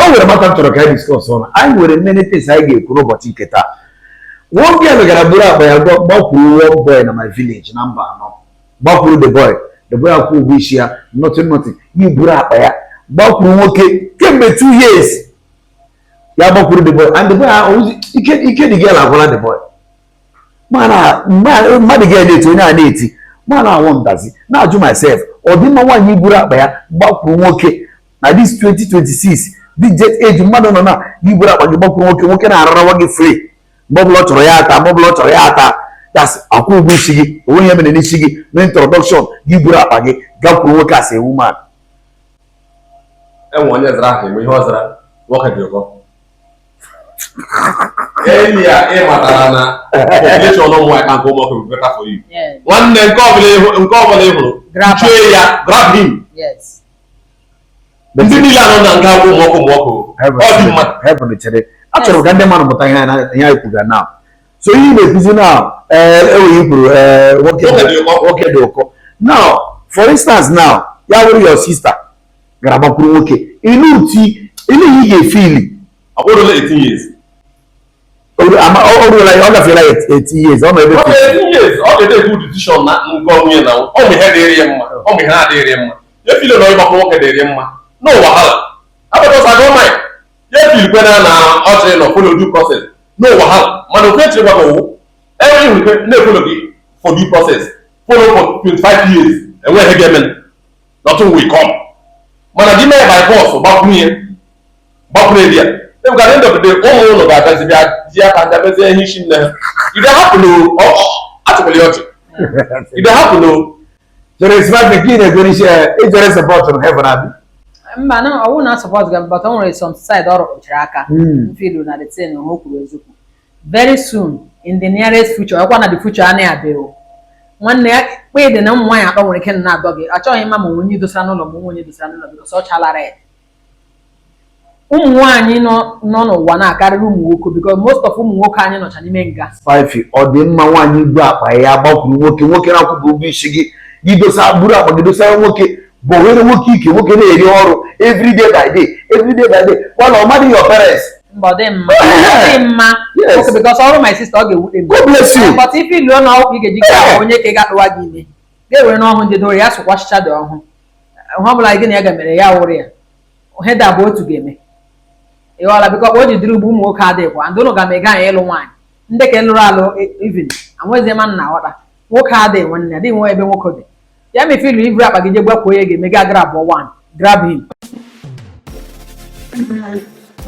o nwere matter m chọrọ ka anyị discuss on anyị nwere many things anyị ga-ekwu n'ụbọchị nke taa one girl gara buru akpa ya gbakwuru one boy na my village na mbano gbakwuru the boy the boy akwụ ụgwọ isi ya nothing nothing ya buru akpa ya gbakwuru nwoke kemgbe two years ya gbakwuru the boy and the boy ahụzi ike ike the girl agwụla the boy mana the girl na-eti onye a na-eti mana i wonder zi na-ajụ myself ọ dị mma nwaanyị buru akpa ya gbakwuru nwoke na this 2026 this jet age mmadụ nọ na gị buru akpa gị gbakwuru nwoke nwoke na-ararawa gị free mgbe ọbụla ọ chọrọ ya ata mgbe ọbụla ọ chọrọ ya ata that's akwụ ụgwọ isi gị o nwe ihe e mere n'isi gị no introduction gị buru akpa gị gakwuru nwoke as a woman enwe onye zara ahụ ihe ọ zara nwoke dị ụkọ enyi ya ị matara na population ụmụ nwaanyị ka nke ụmụ nwoke better for you nwanne nke ọbụla ị hụrụ chue ya grab him ndị niile nọ na nga akwụ mọkụ mọkụ ọ dị mma heaven chere achọrọ ka ndị mmadụ mụta ihe anyị kwuga now so ihe ị na-ekwuzi na enweghị kwuru nwoke dị ụkọ now for instance now ya wụrụ your sister gara gbakwuru nwoke elee otu elee ihe ị ga-efeel ọ bụrụ 18 years o ruola ya ọ gafeela ya 18 years ọ na-ebe ọ ga-edebe decision na nke onwe ya na ọ bụ ihe dịrị ya mma ọ bụ ihe na-adịrị ya mma ya feel na ịgbakwu nwoke dịrị ya mma no wahala because gọọmenti ya feelkwa na na ọ chọrọ na follow due process no wahala mana ofe chịrị gbakọ ụwụ enweghị nwere na-efollow gị for due process follow for 25 years enweghị ihe ga-eme nothing will come mana gị mee by force gbakwuru ihe gbakwuru eri ya ebuka at the end of the day ụmụ ụlọ ga-agazi bịa ji aka ndị mezie ihe isi nne ha if they happen atụkwala ya ọchị if they happen jere smartphone gị na-egwere isi ejere support na heaven abi mba na i will not support ga but o nwere some side ọ rụchara aka m feel na the thing o kwuru eziokwu very soon in the nearest future ọkwa na the future anaghị abịa o nwanne ya kpa ịdị na ụmụ nwaanyị atọ nwere ike na-adọ gị achọghị ịma ma onye dosara n'ụlọ ma onye dosara n'ụlọ gị ọ chala red ụmụ nwaanyị nọ n'ụwa na-akarịrị ụmụ nwoke because most of ụmụ nwoke anyị nọcha n'ime nga spifi ọ dị mma nwaanyị ibu akpa ya gbakwuru nwoke nwoke na-akwụbụ ụgwọ isi gị gị dosa buru akpa gị dosara nwoke bọwere nwoke ike nwoke na-eri ọrụ everyday by day everyday by day kwa na ọ madịghị your parents Mba, ọ dị mma. Ọ dị mma. Yes. Okay, because ọ wụrụ my sister, ọ ga-ewute m. God bless you. But if you know how ị ga-eji get onye ke ga-atụwa gị ime. Ga-ewere n'ọhụ ndị doro ya sụkwasịcha dị ọhụ. Ihe ọ bụla gị na ya ga-emere ya wụrụ ya. Ihe da bụ otu ga-eme. Ị ghọla because otu ọ dị ugbu a ụmụ nwoke adịghịkwa. Ndị ụlọ ga ma ị gaghị ịlụ nwaanyị. Ndị ke lụrụ alụ even. Anwezie ma nna ghọta. Nwoke adịghị nwanne, adịghị nwe ebe nwoke dị. Ya mefe ilu i buru akpa gị je gbakwuo ya ga-eme gị grab one. Grab him.